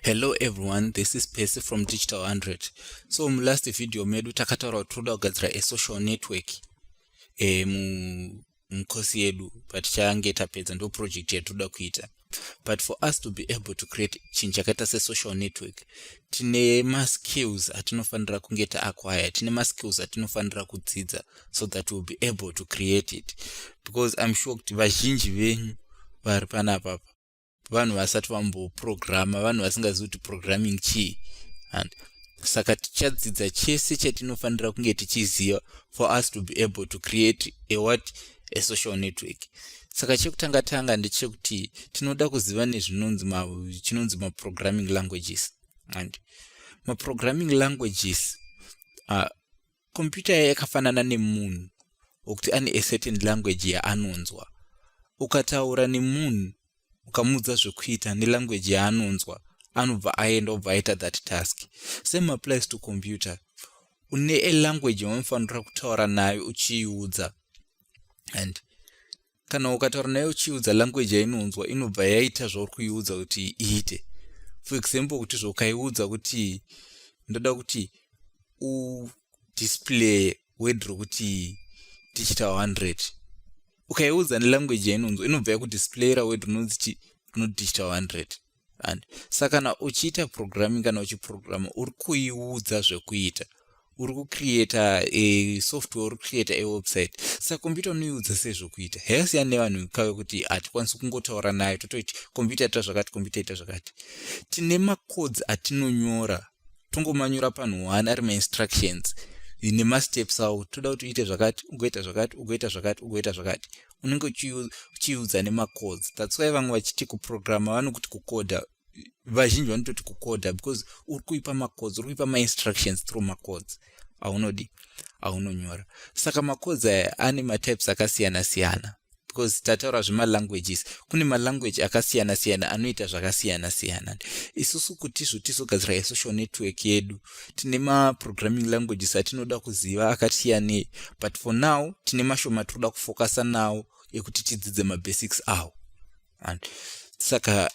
hello everyone this is pesi from digital 100 so mulast video medu takataura kuti toda kugadzira asocial network e, mukosi yedu but change tapedza ndo project yatoda kuita but for us to be able to create chinhu chakaita sesocial network tine maskills atinofanira kunge taacquire tine maskills atinofanira kudzidza so that we'll be able to create it because im sure kuti vazhinji venyu vari panapapa vanhu vasati vamboprograma vanhu vasingazivi kuti programming chii and saka tichadzidza chese chatinofanira kunge tichiziva for us to be able to create a what esocial network saka chekutanga tanga ndechekuti tinoda kuziva nezvinonzi chinonzi maprogramming languages and maprogramming languages uh, computer yakafanana nemunhu wekuti ane acertain language yaanonzwa ukataura nemunhu ukamuudza zvekuita nelanguage yaanonzwa anobva aenda obva aita that task same applies to computer une a language yaunofanira kutaura nayo uchiiudza and kana ukataura nayo uchiiudza language yainonzwa inobva yaita zvauri kuiudza kuti iite for example kuti zvaukaiudza kuti ndoda kuti udisplaye word rokuti tichita 100 ukaiudza nelanguage yainonzwa inobva yakuti splayer word rinonziti rinoti tichita 100 and saka kana uchiita programming kana uchiprograma uri kuiudza zvekuita uri kucreata e software uri kucreata e website saka computer unoiudza sei zvekuita heyasiyana nevanhu kave kuti hatikwanisi kungotaura nayo totoiti computer ita zvakati computer ita zvakati tine macodes atinonyora tongomanyura panhu one ari mainstructions nemasteps awo toda kuti uite zvakati ugoita zvakati ugoita zvakati ugoita zvakati unenge uchiudza nemacodes thats why vamwe vachiti kuprograma vanokuti kukoda vazhinji vanototi kukoda because uri kuipa macodes uri kuipa mainstructions through macodes aunodi aunonyora saka macodes aya ane matypes akasiyana siyana because tataura zvemalanguages kune malanguage akasiyana siyana anoita zvakasiyana siyana isusu kuti izvo tizogadzira yesocial network yedu tine maprogramming languages atinoda kuziva akasiyanei but for now tine mashoma tinoda kufokasa nawo ekuti tidzidze mabasics awo and saka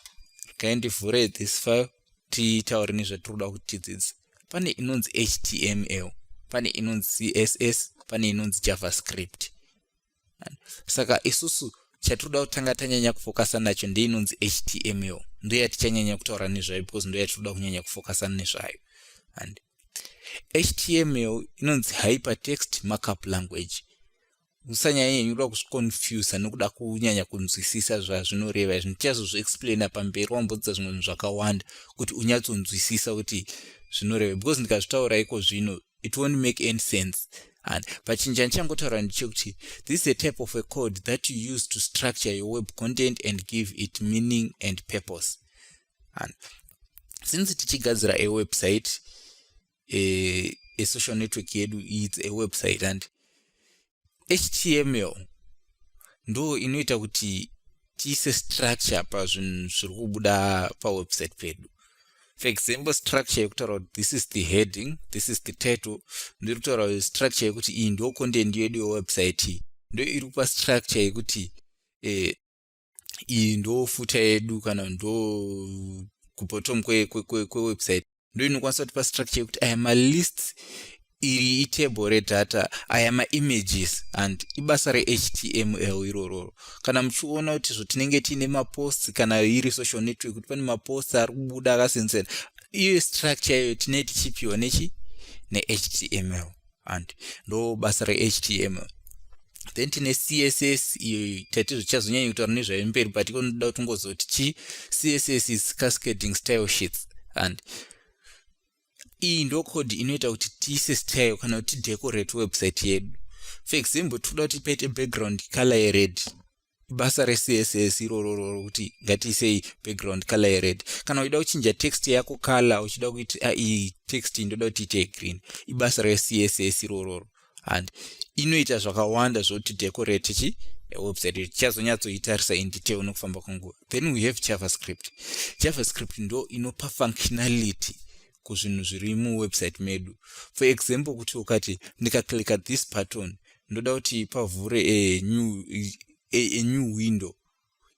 kaindivhure this file titaure nezvatinoda kuti tidzidze pane inonzi html pane inonzi css pane inonzi javascript saka isusu chatinoda kutanga tanyanya kufokasa nacho ndeinonzi html ndo yatichanyanya kutaura nezvayo because ndo yatinoda kunyanya kufokasa nezvayo and html inonzi hypertext markup language usanyanyenyuda kuzviconfusa nokuda kunyanya kunzwisisa zvazvinoreva izvi ndichazozviexplaina pamberi wambodza zvimwe zvinhu zvakawanda kuti unyatsonzwisisa kuti zvinoreva because ndikazvitaura iko zvino it won't make any sense and but chinja ndichangotaura ndichekuti this is a type of a code that you use to structure your web content and give it meaning and purpose and since tichigadzira a website a, a social network yedu it's a website and html ndo inoita kuti tiise structure pazvinhu zviri kubuda pawebsite pedu for example structure yekutaura kuti this is the heading this is the title ndiri kutaura structure yekuti iyi ndo content yedu yewebsite ndo iri kupa structure yekuti eh, iyi ndo futa yedu kana ndo kubottom kwewebsite ndo inokwanisa kutipa structure yekuti aya malists iri itable redata aya maimages and ibasa rehtml irororo kana muchiona kuti zvotinenge tiine maposts kana iri social network kuti pane maposts ari kubuda akasinsena iyo structure iyoyo tinee tichipiwa nechi nehtml and ndo basa rehtml then tine css iyo taitizvo tichazonyanya kutaura nezvayo mberi but ikonoda kuti ngozoti chi css is cascading style sheets and iyi ndo code inoita kuti tiise style kana kuti tidecorate website yedu for example tikuda kuti paite background color yered ibasa recss irororo rokuti ngatiisei background color yered kana uchida kuchinja text yako color uchida kuti ah, iyi text ndoda kuti ite green ibasa recss irororo and inoita zvakawanda zvokuti decorate chi website iyo tichazonyatsoitarisa in detail nokufamba kwenguva then we have javascript javascript ndo inopa functionality kuzvinhu zviri muwebsite medu for example kuti ukati ndikaclicka this button ndoda kuti pavhure a new, a, a new window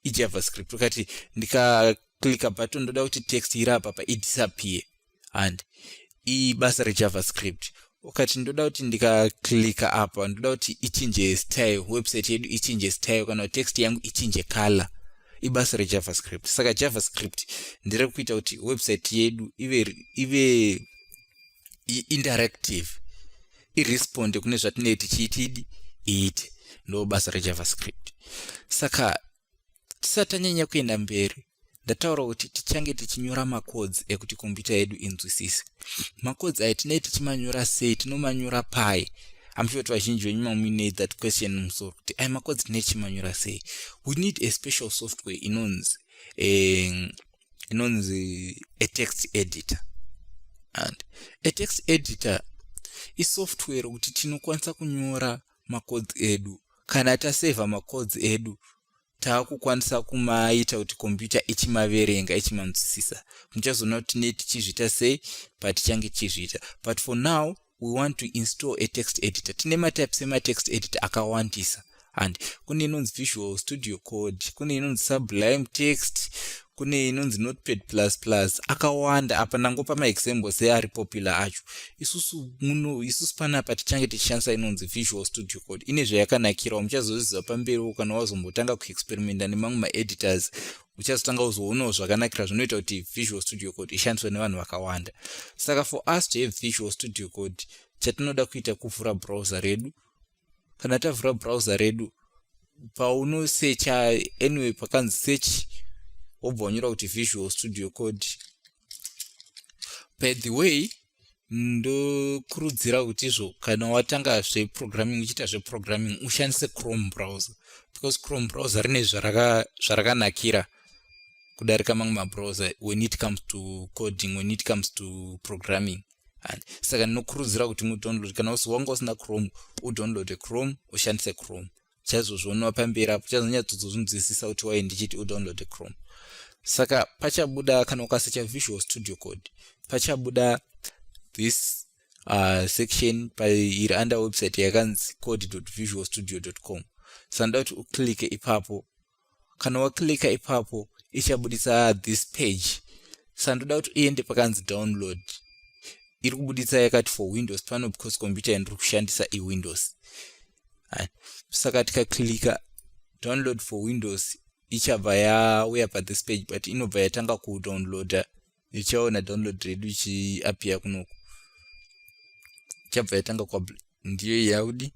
ijavascript ukati ndikaclicka button ndoda kuti text iri apapa idisappear and ibasa rejavascript ukati ndoda kuti ndikaklika apa ndoda kuti ichinje style website yedu ichinje style kana text yangu ichinje color ibasa rejavascript saka javascript ndiri kuita kuti website yedu ive ive interactive iresponde kune zvatinee tichiitidi iite ndo basa rejavascript saka tisati tanyanya kuenda mberi ndataura kuti tichange tichinyora makodzi ekuti kombiyuta yedu inzwisise makodzi ayo tinei tichimanyora sei tinomanyora pai amsure kuti vazhinji venyu mamuine that question musoro kuti ayo makodzi tinei tichimanyora sei we need a special software inonzi um, inonzi a text editor and a text editor isoftware kuti tinokwanisa kunyora macodes edu kana tasevha macodes edu taakukwanisa kumaita kuti computer ichimaverenga ichimanzwisisa muchazoona kuti ne tichizviita sei patichange tichizviita but for now we want to install a text editor tine matypes ematext editor akawandisa and kune inonzi visual studio code kune inonzi sublime text kune inonzi notepad plus plus akawanda apa ndangopa maexample seari popular acho isusu muno isusu panapa tichange tichishandisa inonzi visual studio code ine zvayakanakirawo muchazozviziva pamberiwo kana wazombotanga kuexperimenta nemamwe maeditors uchazotanga kuzoonawo zvakanakira zvinoita kuti visual studio code ishandiswe nevanhu vakawanda saka for us to have visual studio code chatinoda kuita kuvhura browser redu kana tavhura browser redu paunosecha anyway pakanzi search wobva wanyora kuti visual studio code by the way ndokurudzira kuti izvo kana watanga zveprogramming uchiita zveprogramming ushandise chrome browser because chrome browser rine zvarakanakira kudarika mamwe mabrowser when it comes to coding when it comes to programming and saka ndinokurudzira kuti mudownload kana usi wanga usina chrome udownloade chrome ushandise chrome chazozvionwa pamberi apo chazonyatsozozvinzwisisa kuti wai ndichiti udownloade chrome saka pachabuda kana ukasecha visual studio code pachabuda this uh, section pairi under website yakanzi code visual studio com saka ndoda kuti uclicke ipapo kana waclicka ipapo ichabuditsa this page saka ndoda kuti uende pakanzi download iri kubuditsa yakati for windows pano because computer yandiri kushandisa iwindows saka tikaclicka download for windows ichabva yauya pathis page but inobva yatanga kudownloader ichaona download redu ichiapia kunoku chabva yatanga kwa ndiyo yaudi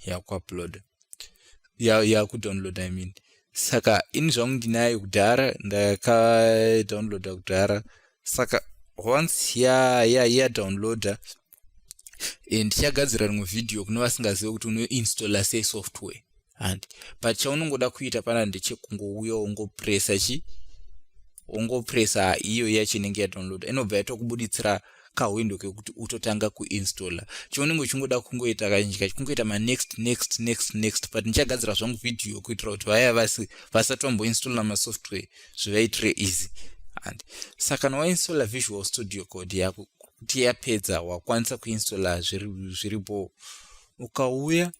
yakuupload yakudownload i mean saka ini zvangu ndinayo kudhara ndakadownloada kudhara saka once ya ya yadownloada eh, ndichagadzira rimwe vhidhiyo kune vasingazive kuti unoinstalla sei software handi but chaunongoda kuita pana ndechekungouya wongopresa chi wongopresa iyo yacho inenge yadownloada inobva yatokubuditsira kahwindo kekuti utotanga kuinstalla chounenge uchingoda kungoita kazhinji kacho kungoita manext next next next but ndichagadzira zvangu vhidhiyo kuitira kuti vaya vasi vasati vamboinstalla masoftware zvivaitire easy and saka kana wainstalla visual studio code yako kuti yapedza wakwanisa kuinstalla zviripo ukauya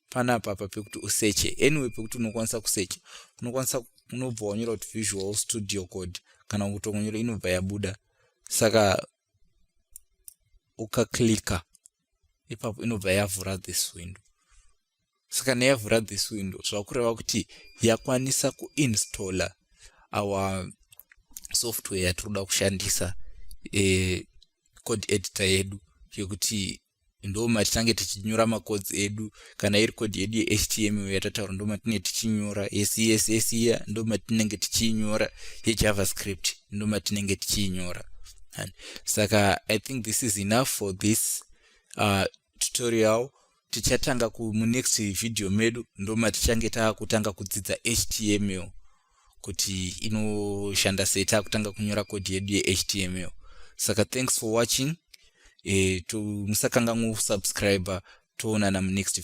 panapa pa pekuti useche anyway pekuti unokwanisa kusecha unokwanisa unobva wanyora kuti visual studio code kana kutongonyora inobva yabuda saka ukaklicka ipapo inobva yavhura this window saka neyavhura this window zvakureva kuti yakwanisa kuinstalla our software yatiri kuda kushandisa e, code editor yedu yekuti ndo matitange tichinyora macodes edu kana iri code yedu yehtml yatataura ndo matinenge tichinyora yecss iya ndo matinenge tichiinyora yejavascript ndo matinenge tichiinyora saka i think this is enough for this uh, tutorial tichatanga kumunext video medu ndomatichange taakutanga kudzidza html kuti inoshanda sei taakutanga kunyora kodi yedu yehtml saka thanks for watching e, eh, musakanganwa kusubscribe toonana munext